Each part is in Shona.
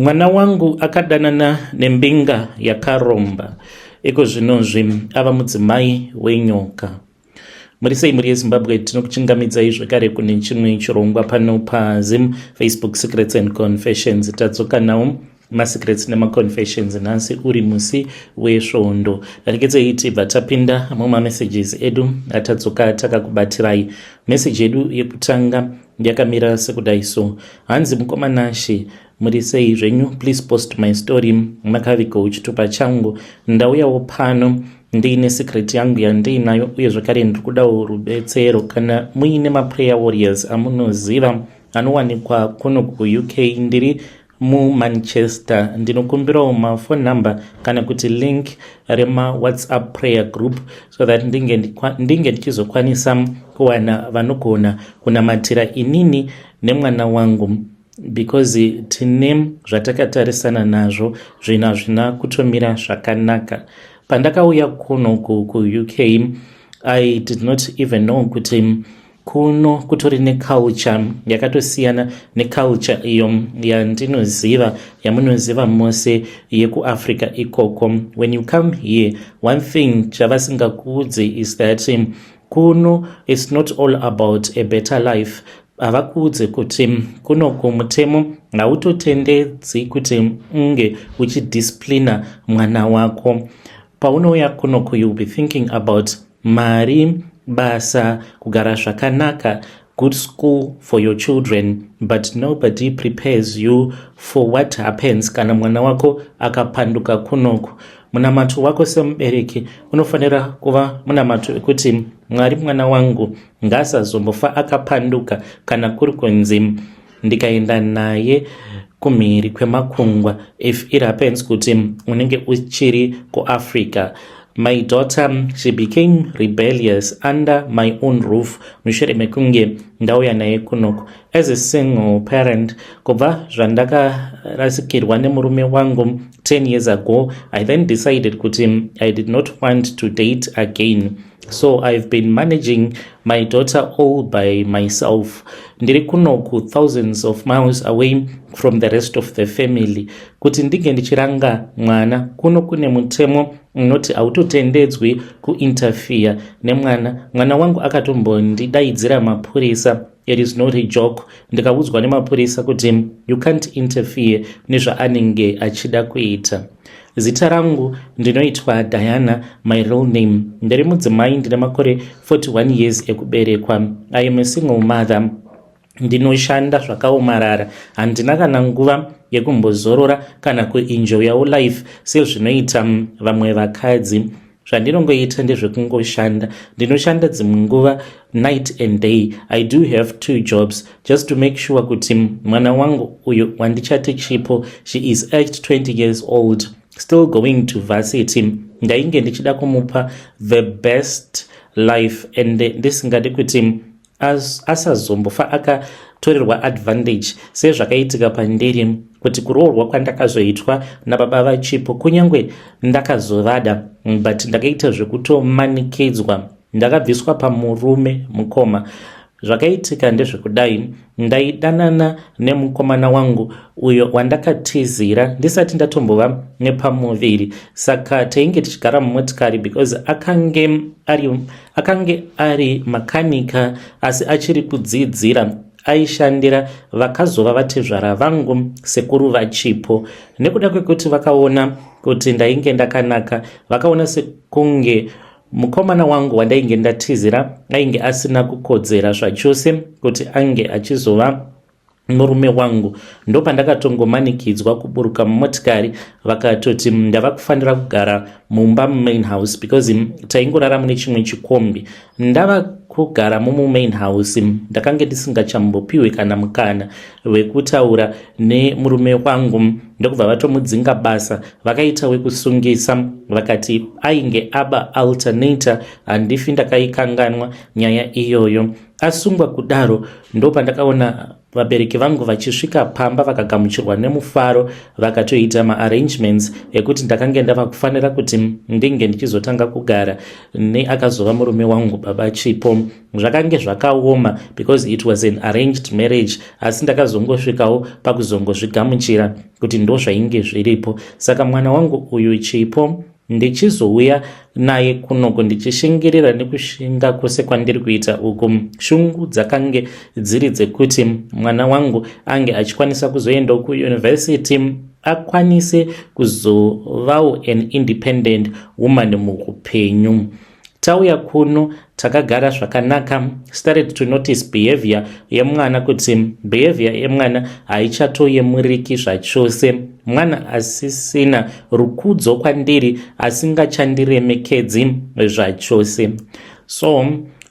Mwana wangu akadanana nembinga yakaromba iko zvinozvi ava mudzimai wenyoka. Muri sei mhuri yezimbabwe tinokuchingamidzai zvekare kune chimwe chirongwa pano pazim facebook secrets and confessions tadzoka nawo masecrets nemaconfessions nhasi uri musi wesvondo danikedzei tibva tapinda mumamessages edu atadzoka takakubatirayii meseji yedu yekutanga Yakamira sekudai so. Hanzi mukoma Nashe muri sei zvenyu please post my story makaviko uchitupa changu ndauyawo pano ndiine secret yangu yandiinayo uye zvakare ndiri kudawo rubetsero kana muine maprayer warriors amunoziva anowanikwa kuno kuuk ndiri mumanchester ndinokumbirawo maphone number kana kuti link remawhatsapp prayer group so that ndinge ndichizokwanisa kuwana vanogona kunamatira inini nemwana wangu because tine zvatakatarisana nazvo zvinhu hazvina kutomira zvakanaka pandakauya kuno kuuk i did not even know kuti kuno kutori neculture yakatosiyana neculture iyo yandinoziva yamunoziva mose yekuafrica ikoko when you come here one thing chavasingakuudze is that um, kuno its not all about a better life havakuudze kuti um, kuno kumutemo hautotendedzi kuti unge uchidisciplina mwana wako Paunouya kuno ku you'll be thinking about mari, basa, kugara zvakanaka, good school for your children but nobody prepares you for what happens kana mwana wako akapanduka kunoku munamato wako semubereki unofanira kuva munamato wekuti mwari mwana wangu ngaasazombofa akapanduka kana kuri kunzi ndikaenda naye kumhiri kwemakungwa if it happens kuti unenge uchiri kuafrica my daughter she became rebellious under my own roof mushure mekunge ndauya naye kunoku as a single parent kubva zvandakarasikirwa nemurume wangu 10 years ago i then decided kuti i did not want to date again so i've been managing my daughter all by myself ndiri kunoku thousands of miles away from the rest of the family kuti ndinge ndichiranga mwana kuno kune mutemo unoti hautotendedzwi kuinterfere nemwana mwana wangu akatombondidaidzira mapurisa It is not a joke. Ndikaudzwa nemapurisa kuti you can't interfere nezvaanenge achida kuita. Zita rangu ndinoitwa Diana, my real name. Ndiri mudzimai ndine makore 41 years ekuberekwa. I am a single mother. Ndinoshanda zvakaomarara. Handina kana nguva yekumbozorora kana kuenjoyawo life sezvinoita vamwe vakadzi. zvandinongoita ndezvekungoshanda ndinoshanda dzimwe nguva night and day i do have two jobs just to make sure kuti mwana wangu uyo wandichati chipo she is age 20 years old still going to varsity ndainge ndichida kumupa the best life and ndisingadi kuti asazombofa akatorerwa advantage sezvakaitika pandiri kuti kuroorwa kwandakazoitwa nababa vachipo kunyange ndakazovada but ndakaita zvekutomanikidzwa ndakabviswa pamurume mukoma zvakaitika ndezvekudai ndaidanana nemukomana wangu uyo wandakatizira ndisati ndatombova nepamuviri saka tainge tichigara mumotikari because akange ari Akange ari makanika asi achiri kudzidzira aishandira vakazova vatezvara vangu sekuru vachipo nekuda kwekuti vakaona kuti ndainge ndakanaka vakaona sekunge mukomana wangu wandainge ndatizira ainge asina kukodzera zvachose kuti ange achizova murume wangu ndopandakatongomanikidzwa kuburuka mumotikari vakatoti ndava kufanira kugara mumba mumain house because taingorara mune chimwe chikombi ndava kugara mumumain house ndakange ndisingachambopiwe kana mukana wekutaura nemurume wangu ndokubva vatomudzinga basa vakaita wekusungisa vakati ainge aba alternator handifi ndakaikanganwa nyaya iyoyo Asungwa kudaro ndopandakaona vabereki vangu vachisvika pamba vakagamuchirwa nemufaro vakatoita maarrangements ekuti ndakange ndava kufanira kuti ndinge ndichizotanga kugara neakazova murume wangu baba chipo zvakange zvakaoma because it was an arranged marriage asi ndakazongosvikawo pakuzongozvigamuchira kuti ndozvainge zviripo saka mwana wangu uyu chipo ndichizouya naye kunoku ndichishingirira nekushinga kwose kwandiri kuita uku shungu dzakange dziri dzekuti mwana wangu ange achikwanisa kuzoendawo kuyunivhesiti akwanise kuzovawo an independent woman muupenyu tauya kuno takagara zvakanaka started to notice behavior yemwana kuti behavior yemwana haichatoyemuriki zvachose mwana asisina rukudzo kwandiri asingachandiremekedzi zvachose so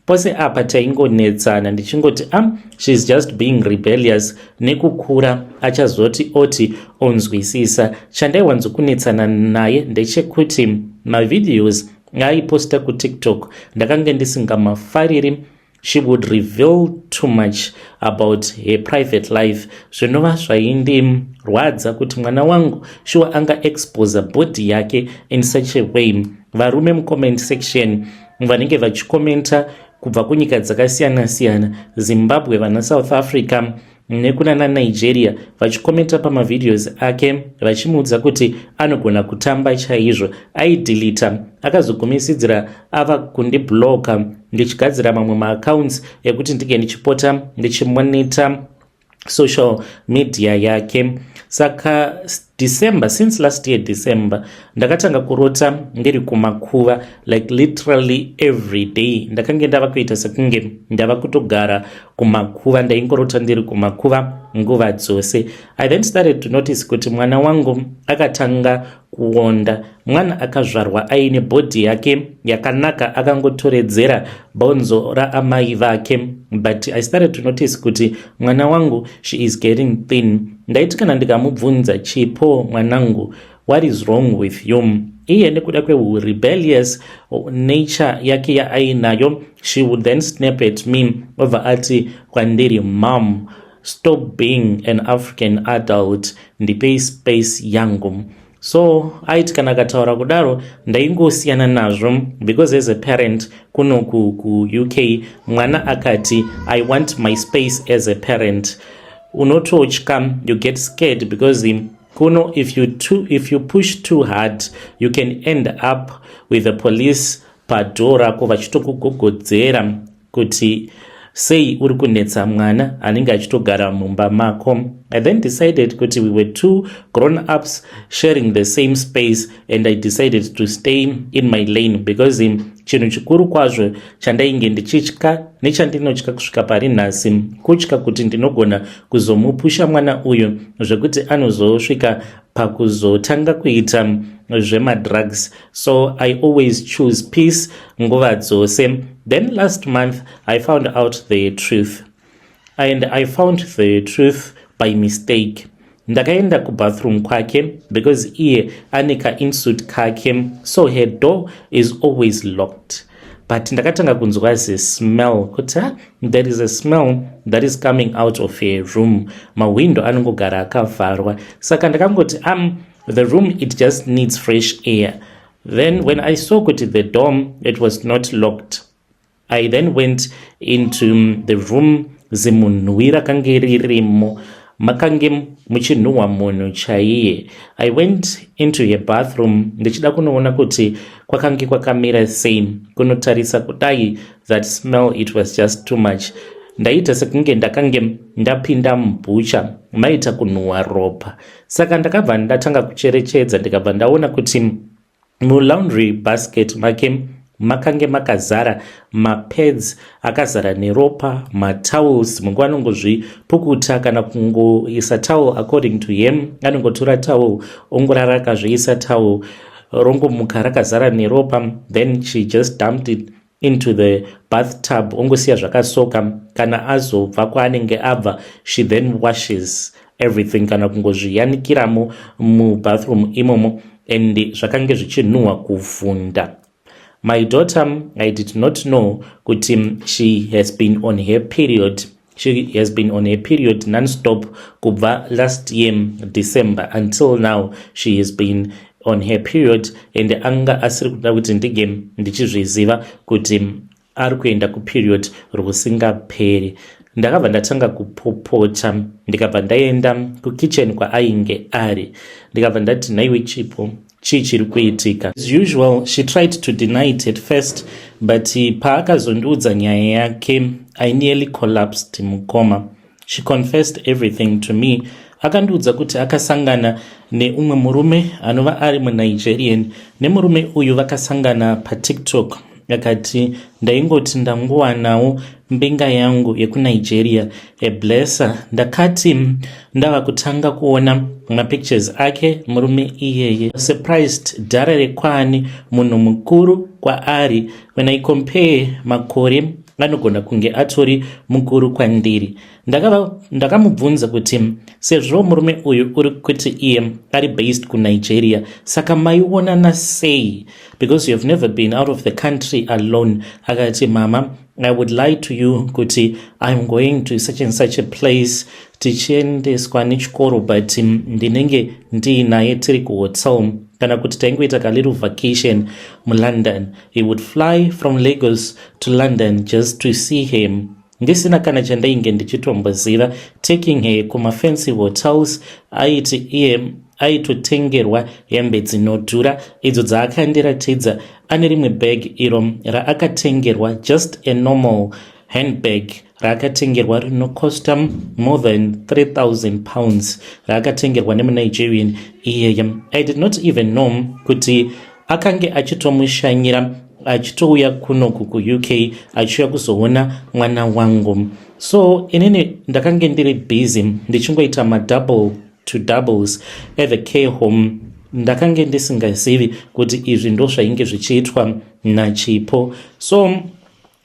pose apa taingonetsana ndichingoti am ah, sheis just being rebellious nekukura achazoti oti onzwisisa chandaiwanzokunetsana naye ndechekuti mavideos ngaaiposta kutiktok ndakange ndisingamafariri she would reveal too much about her private life zvinova zvaindirwadza kuti mwana wangu shuwa anga exposa body yake in such a way varume mucomment section vanenge vachikomenta kubva kunyika dzakasiyana-siyana zimbabwe vana south africa nekuna nanigeria vachikomenta pamavideos ake vachimuudza kuti anogona kutamba chaizvo aidilita akazogumisidzira ava kundibloka ndichigadzira mamwe maaccounts ekuti ndinge ndichipota ndichimonita social media yake saka st December, since last year December, ndakatanga kurota ndiri kumakuva like literally every day. Ndakange ndava kuita sekunge ndava kutogara kumakuva, ndaingorota ndiri kumakuva nguva dzose. I then started to notice kuti mwana wangu akatanga kuonda. mwana akazvarwa aine bhodhi yake yakanaka akangotoredzera bonzo raamai vake but i started to notice kuti mwana wangu she is getting thin ndaiti kana ndikamubvunza chipo mwanangu what is wrong with you iye nekuda kwehurebellious nature yake yaainayo she would then snap at me obva ati kwandiri mom stop being an african adult ndipei space yangu so aiti kana akataura kudaro ndaingosiyana nazvo because as a parent kuno kuuk mwana akati i want my space as a parent unototya you get scared because him kuno if you, too, if you push too hard you can end up with the police padhoo rako vachitokugogodzera kuti sei uri kunetsa mwana anenge achitogara mumba mako i then decided kuti we were two grown ups sharing the same space and i decided to stay in my lane because chinhu chikuru kwazvo chandainge ndichitya nechandinotya kusvika pari nhasi kutya kuti ndinogona kuzomupusha mwana uyu zvekuti anozosvika pakuzotanga kuita zvemadrugs so i always choose peace nguva dzose then last month i found out the truth and i found the truth by mistake ndakaenda kubathroom kwake because iye ane kainsuit kake so her door is always locked but ndakatanga kunzwa zismell kuti ha there is a smell that is coming out of a room mahwindo anongogara akavharwa saka ndakangoti am um, the room it just needs fresh air then when i saw kuti the dom it was not locked i then went into um, the room zimunhuwi rakange ririmo makange muchinhuhwa munhu chaiye i went into her bathroom ndichida kunoona kuti kwakange kwakamira sei kunotarisa kudai that smell it was just too much ndaita sekunge ndakange ndapinda mubhucha maita kunhuhwa ropa saka ndakabva ndatanga kucherechedza ndikabva ndaona kuti Mulaundry basket make makange makazara mapads akazara neropa matowels mungu anongozvipukuta kana kungoisa towel according to him anongotora towel ongorara akazviisa towel rongomuka rakazara neropa then she just dumped it into the bathtub ongosiya zvakasoka kana azobva kwaanenge abva she then washes everything kana kungozviyanikiramo mubathroom imomo and zvakange zvichinhuhwa kuvhunda my daughter i did not know kuti she has been on her period She has been on a period non-stop kubva last year December until now she has been on her period and anga asiri kuda kuti ndige ndichizviziva kuti ari kuenda kuperiod rwusingaperi ndakabva ndatanga kupopota ndikabva ndaenda kukitchen kwaainge ari ndikabva ndati nhaiwe chipo chii chiri kuitika. As usual she tried to deny it at first but paakazondiudza nyaya yake I nearly collapsed mukoma. She confessed everything to me akandiudza kuti akasangana neumwe murume anova ari munigerian nemurume uyu vakasangana patiktok akati ndaingoti ndangowanawo mbinga yangu yekunigeria eblesser ndakati ndava kutanga kuona mapictures ake murume iyeye surprised dhara rekwani munhu mukuru kwaari when i compare makore anogona kunge atori mukuru kwandiri ndakamubvunza kuti sezvo murume uyu uri kuti iye ari based kunigeria saka maionana sei because you have never been out of the country alone akati mama i would lie to you kuti iam going to such and such a place tichiendeswa nechikoro but ndinenge ndiinaye tiri kuhotel kana kuti taingoita kaliru vacation mulondon he would fly from lagos to london just to see him ndisina kana chandainge ndichitomboziva taking her kumafancy hotels aiti iye aitotengerwa hembe dzinodhura idzo dzaakandiratidza ane rimwe bag iro raakatengerwa just a normal handbag raakatengerwa rinocosta more than 3000 pounds raakatengerwa nemunigerian iyeye i did not even know kuti akange achitomushanyira achitouya kunoku kuuk achiuya kuzoona mwana wangu so inini ndakange ndiri busy ndichingoita madouble to doubles at the care home ndakange ndisingazivi kuti izvi ndozvainge zvichiitwa nachipo so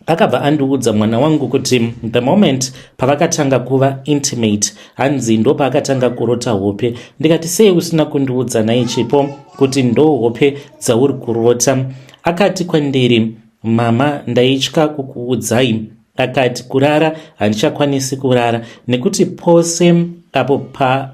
Akabva andiudza mwana wangu kuti the moment pavakatanga kuva intimate hanzi ndopaakatanga kurota hope ndikati sei usina kundiudza naye chipo kuti ndo hope dzauri kurota akati kwandiri mama ndaitya kukuudzai akati kurara handichakwanisi kurara nekuti pose apo pa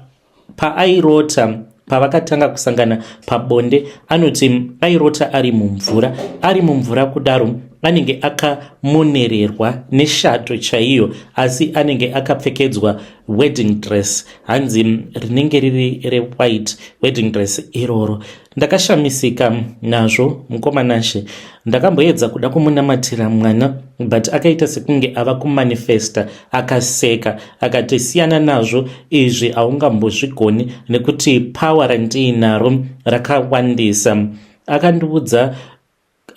Paairota pavakatanga kusangana pabonde anoti airota ari mumvura ari mumvura kudaro anenge akamonererwa neshato chaiyo asi anenge akapfekedzwa wedding dress hanzi rinenge riri rewhite wedding dress iroro ndakashamisika nazvo mukoma nashe ndakamboedza kuda kumunamatira mwana but akaita sekunge ava kumanifesta akaseka akati siyana nazvo izvi haungambozvigoni nekuti power randiinaro rakawandisa akandiudza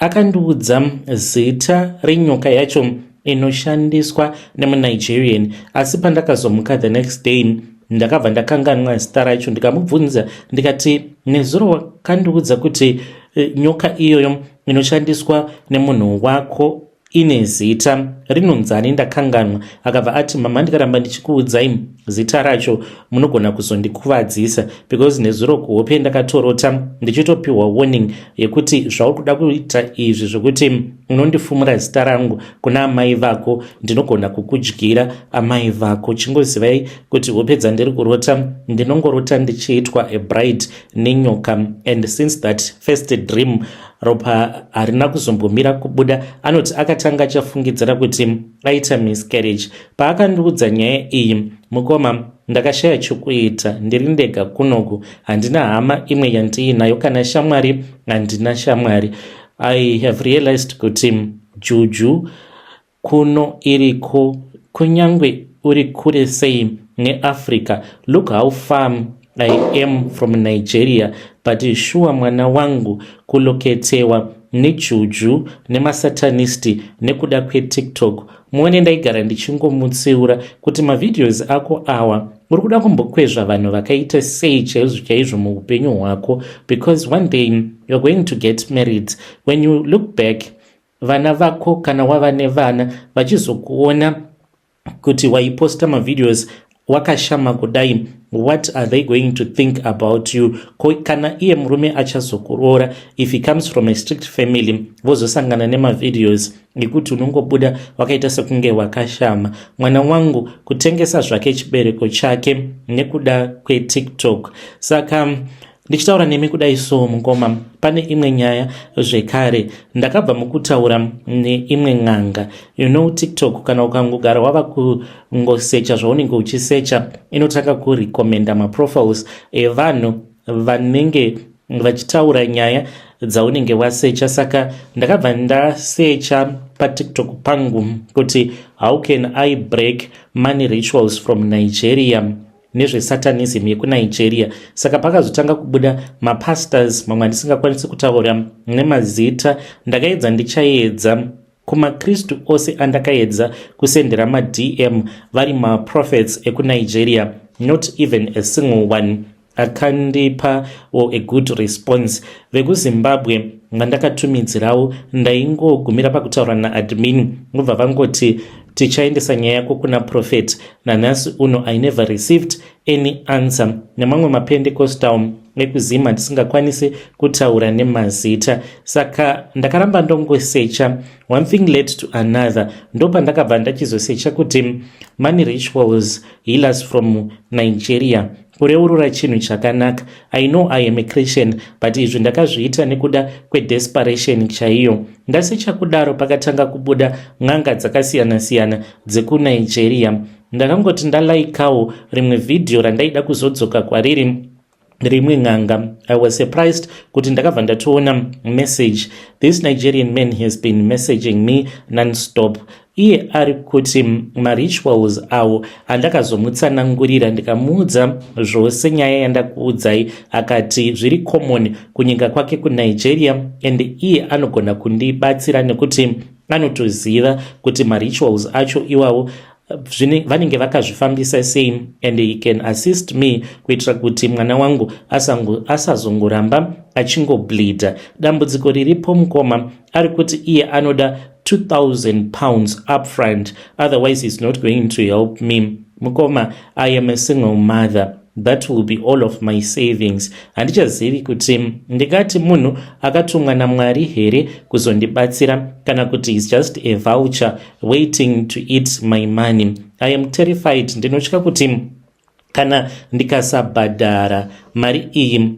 Akandiudza zita renyoka yacho inoshandiswa nemunigerian asi pandakazomuka the next day ndakabva ndakanganwa zita racho ndikamubvunza ndikati nezuro wakandiudza kuti eh, nyoka iyoyo inoshandiswa nemunhu wako Ine zita rinonzani ndakanganwa. Akabva ati mama ndikaramba ndichikuudzai zita racho munogona kuzondikuvadzisa because nezuro kuhope ndakatorota ndichitopiwa warning yekuti zvauri kuda kuita izvi zvekuti unondifumura zita rangu kuna amai vako ndinogona kukudyira amai vako chingozivai kuti hope dzandiri kurota ndinongorota ndichiitwa a bride nenyoka and since that first dream Ropa harina kuzombomira kubuda. Anoti akatanga achafungidzira kuti aita miscarriage. Paakandiudza nyaya iyi, mukoma ndakashaya chokuita ndiri ndega kunoku handina hama imwe yandiinayo kana shamwari handina shamwari i have realized kuti juju Kuno iriko kunyangwe uri kure sei neAfrica look how far I am from Nigeria but shuwa mwana wangu kuloketewa nejuju nemasatanist nekuda kwetiktok muone ndaigara ndichingomutsiura kuti mavideos ako awa uri kuda kumbokwezva vanhu vakaita sei chaizvo chaizvo muupenyu hwako because one day you're going to get married when you look back Vana vako kana wava nevana vachizokuona kuti waiposta mavideos wakashama kudai what are they going to think about you ko kana iye murume achazokuroora if he comes from a strict family vozosangana nemavideos ekuti unongobuda wakaita sekunge wakashama mwana wangu kutengesa zvake chibereko chake nekuda kwetiktok saka Ndichitaura nemi kudai so mukoma, pane imwe nyaya zvekare. Ndakabva mukutaura neimwe n'anga. You know TikTok kana ukangogara wava kungosecha zvaunenge uchisecha inotanga kurecommenda maprofiles evanhu vanenge vachitaura nyaya dzaunenge wasecha. Saka ndakabva ndasecha paTikTok pangu kuti how can I break money rituals from Nigeria. nezvesatanism yekunigeria saka pakazotanga kubuda mapastors mamwe andisingakwanisi kutaura nemazita ndakaedza ndichaedza kumakristu ose andakaedza kusendera madm vari maprofets ekunigeria not even a single one akandipa or a good response vekuzimbabwe vandakatumidzirawo ndaingogumira pakutaura naadmin vobva vangoti tichaendesa nyaya yako kuna prophet nanhasi uno i never received any answer nemamwe mapendecostal ekuzim handisingakwanisi kutaura nemazita saka ndakaramba ndongosecha one thing led to another ndopandakabva ndachizosecha kuti money rituals healers from nigeria kureurura chinhu chakanaka i know i am a christian but izvi ndakazviita nekuda kwedesperation chaiyo ndasicha kudaro pakatanga kubuda n'anga dzakasiyana-siyana dzekunigeria ndakangoti ndalaikawo rimwe vhidhiyo randaida kuzodzoka kwariri rimwe n'anga i was surprised kuti ndakabva ndatoona message this nigerian man has been messaging me nonstop iye ari kuti marituals awo andakazomutsanangurira ndikamuudza zvose nyaya yandakuudzai akati zviri common kunyika kwake kunigeria and iye anogona kundibatsira nekuti anotoziva kuti marituals acho iwawo vanenge vakazvifambisa sei and he can assist me kuitira kuti mwana wangu asazongoramba achingobleeda dambudziko riripo mukoma ari kuti iye anoda 2000 pounds upfront otherwise he's not going to help me mukoma i am a single mother that will be all of my savings handichazivi kuti ndingati munhu akatumwa namwari here kuzondibatsira kana kuti he's just a voucher waiting to eat my money i am terrified ndinotya kuti Kana ndikasabhadhara mari iyi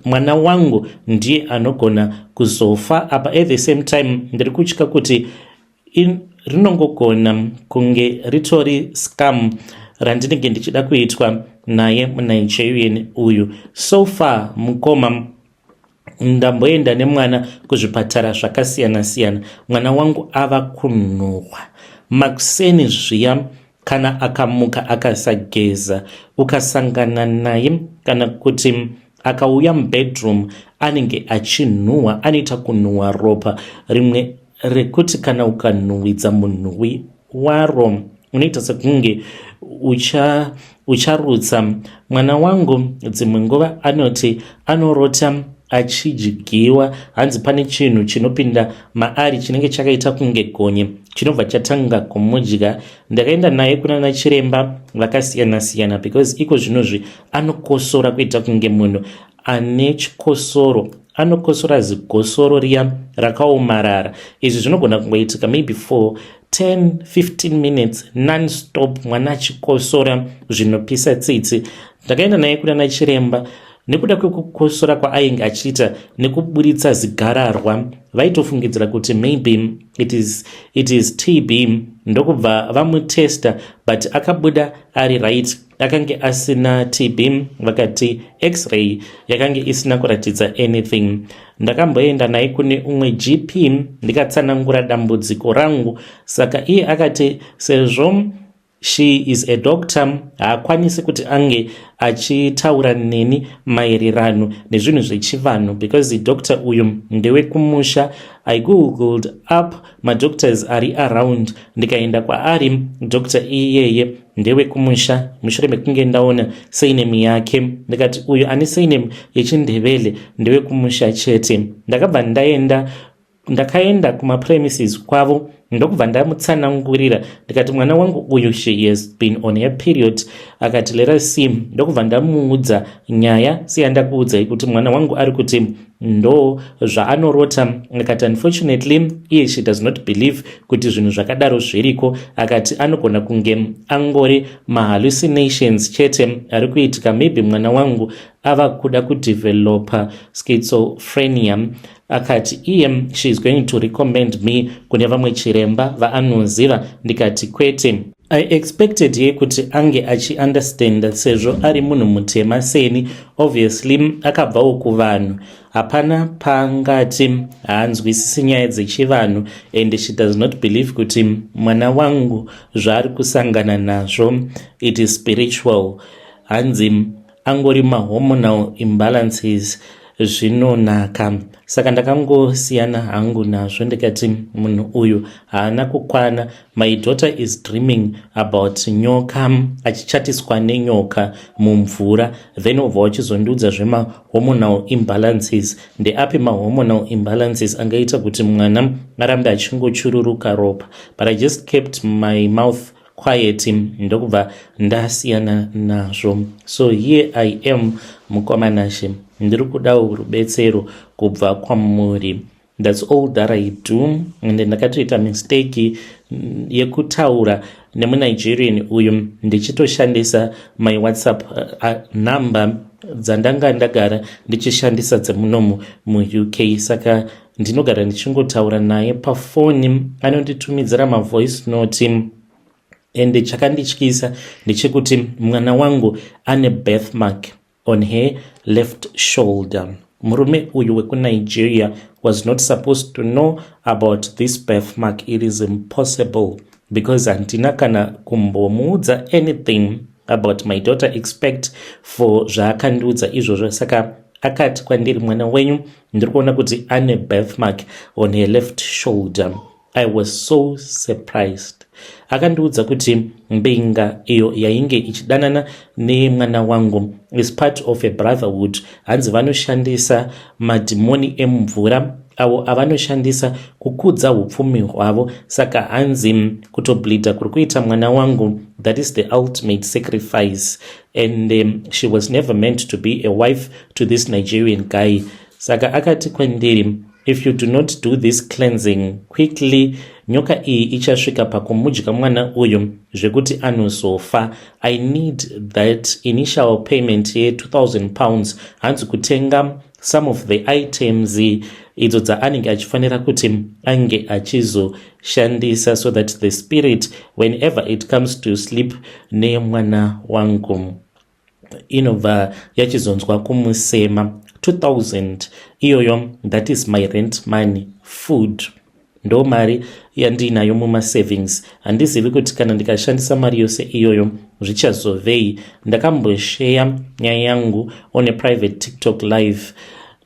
mwana wangu ndiye anogona kuzofa apa at the same time ndiri kutya kuti rinongogona kunge ritori scam randinenge ndichida kuitwa naye munigerian uyu so far mukoma ndamboenda nemwana kuzvipatara zvakasiyana siyana mwana wangu ava kunhuhwa makuseni zviya kana akamuka akasageza ukasangana naye kana kuti akauya mubedroom anenge achinhuhwa anoita kunhuhwa ropa rimwe rekuti kana ukanhuwidza munhuwi waro unoita sekunge ucha ucharutsa mwana wangu dzimwe nguva anoti anorota achidyiwa hanzi pane chinhu chinopinda maari chinenge chakaita kunge gonye chinobva chatanga kumudya ndakaenda naye kuna nachiremba vakasiyana-siyana because iko zvinozvi anokosora kuita kunge munhu ane chikosoro anokosora zigosoro riya rakaomarara izvi zvinogona kungoitika maybe for 10 15 minutes nonstop mwana achikosora zvinopisa tsitsi ndakaenda naye kuda nachiremba nekuda kwekukosora kwaainge achiita nekuburitsa zigararwa vaitofungidzira kuti maybe it is, it is tb ndokubva vamutesta but akabuda ari right akange asina tb vakati x-ray yakange isina kuratidza anything ndakamboenda naye kune umwe gp ndikatsanangura dambudziko rangu saka iye akati sezvo she is a doctor haakwanisi kuti ange achitaura neni maererano nezvinhu zvechivanhu because doctor uyu ndewekumusha i googled up madoctors ari around ndikaenda kwaari doctor iyeye ndewekumusha mushure mekunge ndaona surname yake ndikati uyu ane surname yechindevele ndewekumusha chete ndakabva ndaenda ndakaenda kumapremises kwavo ndokubva ndamutsanangurira ndikati mwana wangu uyu she has been on her period akati lera sim ndokubva ndamuudza nyaya seyandakuudzai kuti mwana wangu ari kuti Ndo zvaanorota akati unfortunately iye she does not believe kuti zvinhu zvakadaro zviriko akati anogona kunge angori mahallucinations chete ari kuitika maybe mwana wangu ava kuda kudevelopa schizophrenia akati iye she is going to recommend me kune vamwe chiremba vaanoziva ndikati kwete I expected here kuti ange achi understand sezvo ari munhu mutema seni obviously akabvawo kuvanhu hapana pangati haanzwisisi nyaya dzechivanhu and she does not believe kuti mwana wangu zvaari kusangana nazvo it is spiritual hanzi angori mahormonal imbalances zvinonaka saka ndakangosiyana hangu nazvo ndikati munhu uyu haana kukwana my daughter is dreaming about nyoka achichatiswa nenyoka mumvura then obva wachizondiudza zvemahormonal imbalances ndeapi mahormonal imbalances angaita kuti mwana arambe achingochururuka ropa but i just kept my mouth quiet ndokubva ndasiyana nazvo so here i am mukoma nashe ndiri kudawo rubetsero kubva kwamuri thats all that i do ende ndakatoita mistake mm, yekutaura nemunigerian uyu ndichitoshandisa my whatsapp uh, uh, number dzandanga ndagara ndichishandisa dzemunomu muuk saka uh, ndinogara ndichingotaura naye pafoni anonditumidzira mavoice note ende chakandityisa ndechekuti mwana wangu ane birth mark on her left shoulder murume uyu wekunigeria was not supposed to know about this birth mark it is impossible because handina kana kumbomuudza anything about my daughter expect for zvaakandiudza izvozvo saka akati kwandiri mwana wenyu ndiri kuona kuti ane birthmark on her left shoulder i was so surprised akandiudza kuti mbinga iyo yainge ichidanana nemwana wangu is part of a brotherhood hanzi vanoshandisa madhimoni emumvura avo avanoshandisa kukudza upfumi hwavo saka hanzi kutoblida kuri kuita mwana wangu that is the ultimate sacrifice and um, she was never meant to be a wife to this nigerian guy saka akati kwandiri if you do not do this cleansing quickly nyoka iyi ichasvika pakumudya mwana uyu zvekuti anozofa i need that initial payment ye 2000 pounds hanzi kutenga some of the items idzo dzaanenge achifanira kuti ange achizoshandisa so that the spirit whenever it comes to sleep nemwana wangu inobva yachizonzwa kumusema 2000 iyoyo that is my rent money food Ndo mari yandiinayo mumasavings. Handizivi kuti kana ndikashandisa mari yose iyoyo zvichazovei. Ndakambosheya nyaya yangu on a private TikTok live.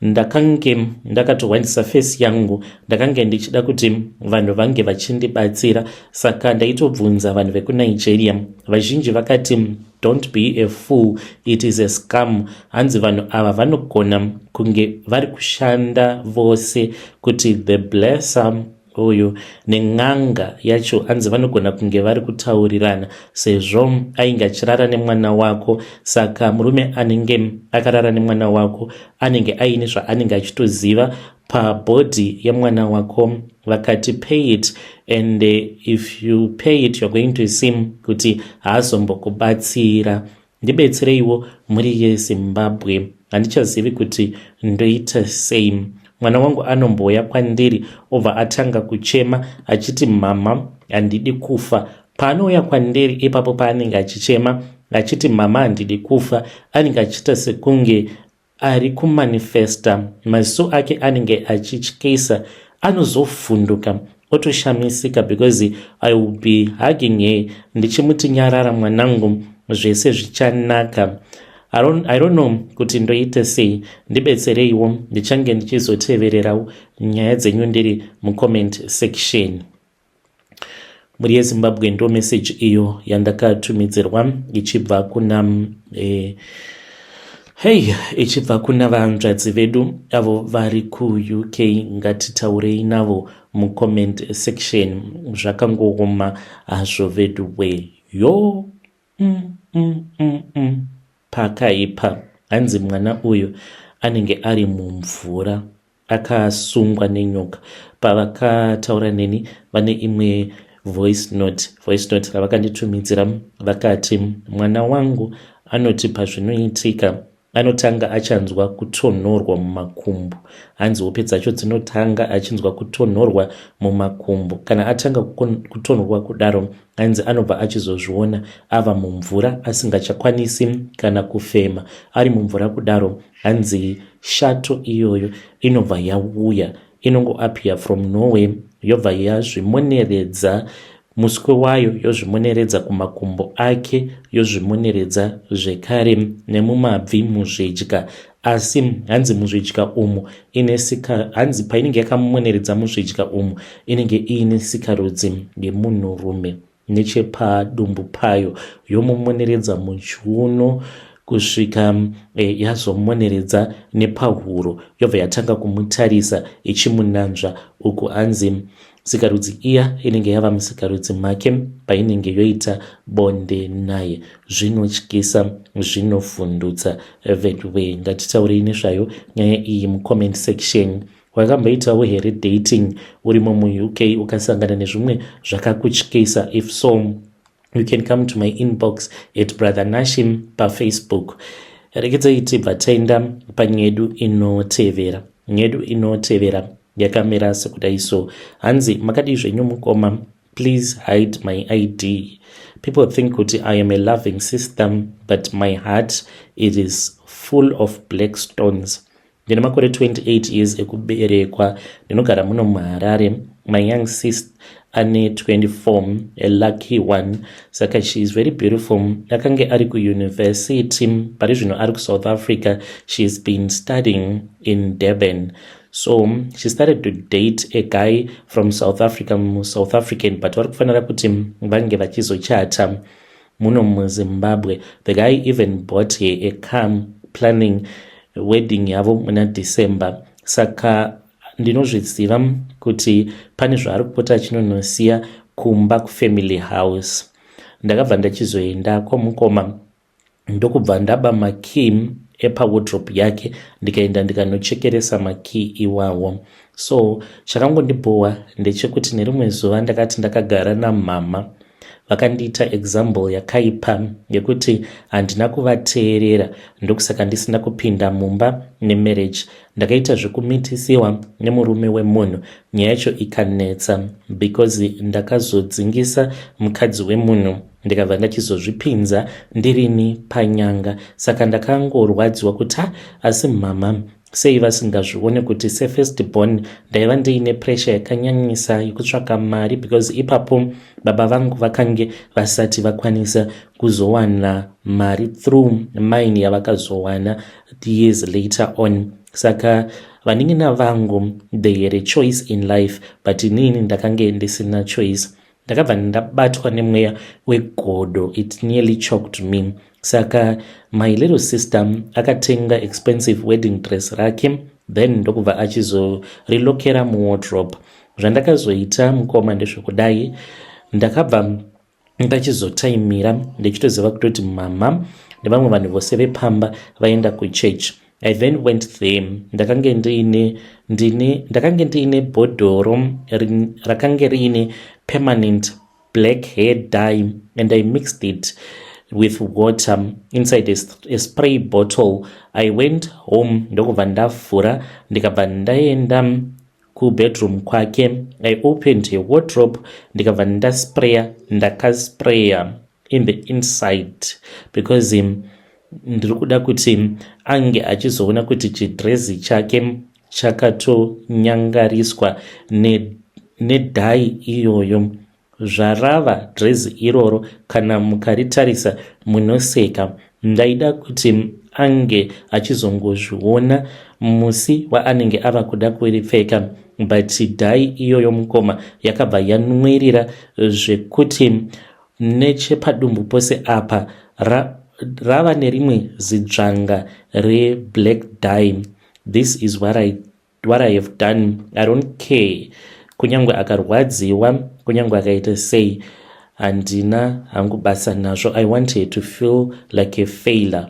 Ndakange ndakatohwandisa face yangu. Ndakange ndichida kuti vanhu vange vachindibatsira saka ndaitobvunza vanhu vekuNigeria. Vazhinji vakati Don't be a fool, it is a scam. Hanzi vanhu ava vanogona kunge vari kushanda vose kuti the blesser uyu nen'anga yacho hanzi vanogona kunge vari kutaurirana sezvo ainge achirara nemwana wako saka murume anenge akarara nemwana wako anenge aine zvaanenge achitoziva pabody yemwana wako vakati pay it and if you pay it you're going to see kuti haazombokubatsira ndibetsereiwo mhuri yezimbabwe handichazivi kuti ndoita sei mwana wangu anombouya kwandiri obva atanga kuchema achiti mama handidi kufa paanouya kwandiri ipapo paanenge achichema achiti mama handidi kufa anenge achiita sekunge Ari kumanifesta, maziso ake anenge achityisa, anozovhunduka otoshamisika because I will be hugging her ndichimuti nyarara mwanangu zvese zvichanaka. I don't, I don't know kuti ndoite sei, ndibetsereiwo ndichange ndichizotevererawo nyaya dzenyu ndiri mucomment section. mhuri yezimbabwe ndo message iyo yandakatumidzirwa ichibva kuna eh, hei ichibva kuna vanzvadzi vedu avo vari kuuk ngatitaurei navo mucomment section zvakangooma hazvo veduwe yoo Umm umm umm umm pakaipa hanzi mwana uyu anenge ari mumvura akasungwa nenyoka pavakataura neni vane imwe voice note voice note ravakanditumidzira vakati mwana wangu anoti pazvinoitika Anotanga achanzwa kutonhorwa mumakumbo. Hanzi hope dzacho dzinotanga achinzwa kutonhorwa mumakumbo. Kana atanga kutonhorwa kudaro, hanzi anobva achizozviona ava mumvura asingachakwanisi kana kufema. Ari mumvura kudaro, hanzi shato iyoyo inobva yauya inongoappear from nowhere yobva yazvimoneredza Muswe wayo yozvimuneredza kumakumbo ake, yozvimuneredza zvekare nemumabvi muzvidya. Asi hanzi muzvidya umu ine sika, hanzi painenge yakamuneredza muzvidya umu inenge iine sikarudzi yemunhurume nechepadumbu payo, yomumoneredza muchiuno kusvika e, yazomoneredza nepahuro, yobva yatanga kumutarisa ichimunanzva uku hanzi sikarudzi iya inenge yava musikarudzi make painenge yoita bonde naye zvinotyisa zvinovhundutsa veduwee ngatitaurei nezvayo nyaya iyi mucomment section wakamboitawo here dating urimo muuk ukasangana nezvimwe zvakakutyisa if so you can come to my inbox at brother nashim pafacebook rekedzai tibva taenda panyedu inotevera nyedu inotevera yakamira sekudai so hanzi makadii zvenyu mukoma please hide my id people think kuti i am a loving system but my heart it is full of black stones Ndine makore 28 years ekuberekwa ndinogara muno muHarare. My young sis ane 24 a lucky one saka she is very beautiful akange ari kuuniversity pari zvino ari kusouth africa she has been studying in durban so she started to date a guy from south africa musouth african but vari kufanira kuti vange vachizochata muno muzimbabwe the guy even bought her a car planning wedding yavo muna december saka ndinozviziva kuti pane zvaari kupota achinonosiya kumba kufamily house ndakabva ndachizoenda kwamukoma ndokubva ndaba makey epawodrop yake ndikaenda ndikanochekeresa makey iwawo so chakangondibhowa ndechekuti nerimwe zuva ndakati ndakagara namama vakandiita example yakaipa yekuti handina kuvateerera ndokusaka ndisina kupinda mumba nemarriage ndakaita zvekumitisiwa nemurume wemunhu nyaya yacho ikanetsa because ndakazodzingisa mukadzi wemunhu ndikabva ndachizozvipinza ndirini panyanga saka ndakangorwadziwa kuti ha asi mama sei vasingazvione kuti sefirst born ndaiva ndiine pressure yakanyanyisa yekutsvaka mari because ipapo baba vangu vakange vasati vakwanisa kuzowana mari through mine yavakazowana years later on saka vanin'ina vangu they had a choice in life but inini ndakange ndisina choice ndakabva ndabatwa nemweya wegodo it nearly choked me saka my little sister akatenga expensive wedding dress rake then ndokubva achizorilokera muwardrop zvandakazoita mukoma ndezvekudai ndakabva ndachizotaimira ndichitoziva kutoti mama nevamwe vanhu vose vepamba vaenda kuchurch I then went there ndakange ndiine ndine ndakange ndiine bhodhoro rakange riine permanent black hair dye and i mixed it with water inside a, a spray bottle i went home ndokubva ndavhura ndikabva ndaenda kubedroom kwake i opened a wardrobe ndikabva ndaspraya ndakaspraya in the inside because um, ndiri kuda kuti um, ange achizoona kuti chidrezi chake um, chakatonyangariswa nedhai ne iyoyo zvarava drezi iroro kana mukaritarisa munoseka ndaida kuti ange achizongozviona musi waanenge ava kuda kuripfeka but dhai iyoyo mukoma yakabva yanwirira zvekuti Nechepadumbu pose apa ra, rava nerimwe zidzvanga reblack dye. This is what I, what I have done. I don't care kunyange akarwadziwa kunyange akaita sei handina hangu basa nazvo i want her to feel like a failer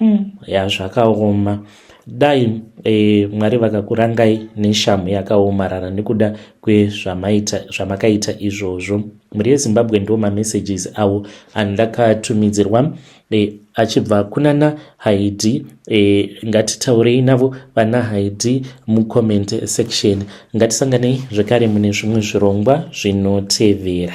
Umm yaa zvakaoma dai e, Mwari vakakurangai neshamhu yakaomarara nekuda kwezvamaita zvamakaita izvozvo. Mhuri yeZimbabwe ndiwo mamessages awo andakatumidzirwa e, achibva kunana Haidi e, ngatitaurei navo vana Haidi mucomment section. Ngatisanganei zvekare mune zvimwe zvirongwa zvinotevera.